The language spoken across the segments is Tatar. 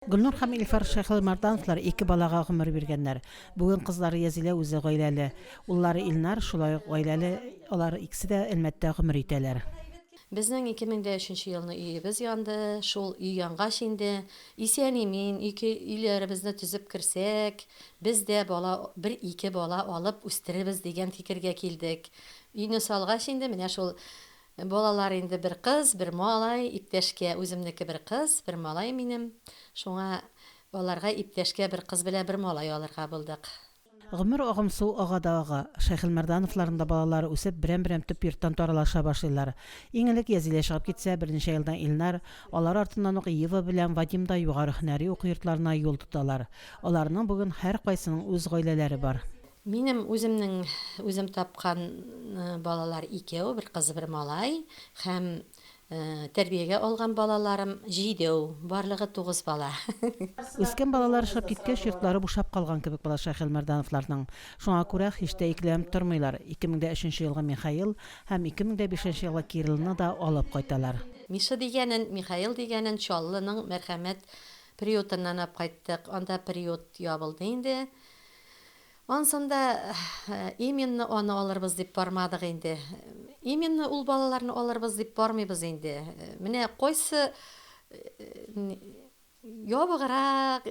Гөлнур һәм Илфар Шәйхелмәрдановлар ике балага гомер биргәннәр. Бүген кызлары Язилә үзе гаиләле. Уллары Илнар шулай ук гаиләле, алар икесе дә Әлмәттә гомер итәләр. Безнең 2003 нче елны өебез янды. Шул өй янгач инде, исән-имин ике өйләребезне төзеп керсәк, без дә бала, бер-ике бала алып үстерербез дигән фикергә килдек. Өйне салгач инде, менә шул Балалар инде бер кыз, бер малай, иптәшкә, үземнеке бер кыз, бер малай минем. Шуңа аларга иптәшкә бер кыз белән бер малай алырга булдык. Гомер агым су ага да ага. Шәйхелмәрдановларның да балалары үсеп, берәм-берәм төп йорттан таралыша башлыйлар. Иң элек Язилә чыгып китсә, берничә елдан Илнар, алар артыннан ук Ева белән Вадим да югары һөнәри уку йортларына юл тоталар. Аларның бүген һәркайсының үз гаиләләре бар. Минем үземнең үзем тапкан балалар икәү, бер кыз, бер малай һәм тәрбиягә алган балаларым җидеу, барлыгы тугыз бала. Үскән балалар чыгып киткәч, йортлары бушап калган кебек була Шәйхелмәрдановларның. Шуңа күрә һич тә икеләнеп тормыйлар, 2003 елгы Михаил һәм 2005 елгы Кириллны да алып кайталар. Миша дигәнен, Михаил дигәнен Чаллының Мәрхәмәт приютыннан ап кайттык, анда приют ябылды инде. Ансын да именно аны алырбыз дип бармадык инде. Именно ул балаларны алырбыз дип бармыйбыз инде. Менә кайсы ябыграк,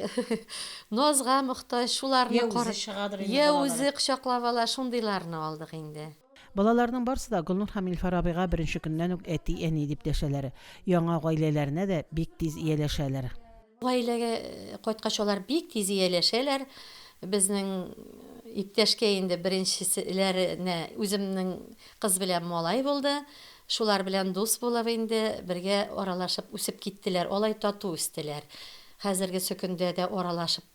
назга мохтаҗ, шуларны карап, йә үзе кочаклап ала, шундыйларны алдык инде. Балаларның барсы да Гөлнур һәм Илфар абыйга беренче көннән үк әти-әни дип дәшәләр. Яңа гаиләләренә дә бик тиз ияләшәләр. Гаиләгә кайткач алар бик тиз ияләшәләр. Безнең иптәшкә инде беренчеселәренә үземнең кыз белән малай булды. Шулар белән дус булып инде бергә аралашып үсеп киттеләр. Алай тату үстеләр. Хәзерге сөкендә дә аралашып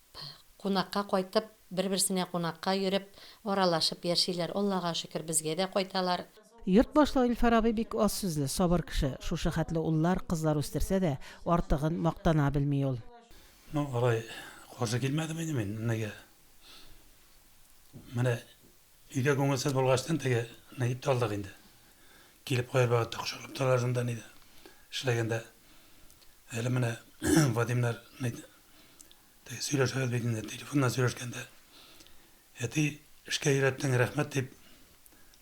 кунакка кайтып. Бер-берсенә кунакка йөреп, аралашып яшиләр. Аллага шөкер, безгә дә кайталар. Йорт башлыгы Илфар абый бик аз сүзле, сабыр кеше. Шушы хәтле уллар, кызлар үстерсә дә, артыгын мактана белми ул. Ну, алай каршы килмәдем инде мин, нигә. Менә өйдә күңелсез булгачтын, теге Наиб та алдык инде. Килеп кайбер вакытта кочаклап торалар шунда нидә эшләгәндә. Әле менә Вадимнар Теге сөйләшәбез бит инде, телефоннан сөйләшкәндә. Әти, эшкә өйрәттең, рәхмәт, дип,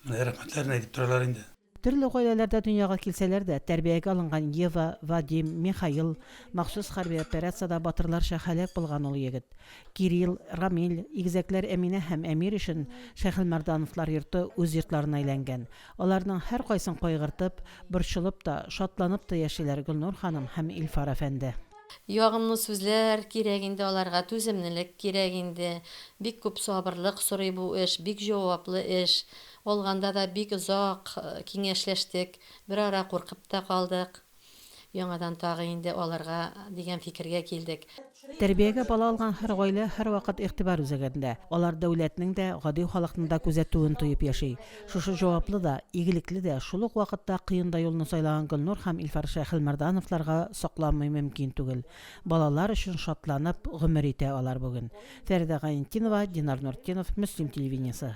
менә рәхмәтләрен әйтеп торалар инде. Төрле гаиләләрдә дөньяга килсәләр дә, тәрбиягә алынган Ева, Вадим, Михаил, махсус хәрби операциядә батырларча һәлак булган ул егет, Кирилл, Рамил, игезәкләр Әминә һәм Әмир өчен Шәйхелмәрдановлар йорты үз йортларына әйләнгән. Аларның һәркайсын кайгыртып, борчылып та, шатланып та яшиләр Гөлнур ханым һәм Илфар әфәнде. Ягымлы сүзләр кирәк инде аларга, түземнелек кирәк инде. Бик күп сабырлык сорый бу эш, бик җаваплы эш. Алганда да бик озак киңәшләштек, берара куркып та калдык. Яңадан тагы инде алырга дигән фикергә килдек. Тәрбиягә бала алган һәр гаилә һәрвакыт игътибар үзәгендә. Алар дәүләтнең дә, гади халыкның да күзәтүен тоеп яши. Шушы җаваплы да, игелекле дә, шул ук вакытта кыен да юлны сайлаган Гөлнур һәм Илфар Шәйхелмәрдановларга сокланмый мөмкин түгел. Балалар өчен шатланып гомер итә алар бүген. Фәридә Гаентдинова, Динар Нуртдинов, Мөслим телевидениесе.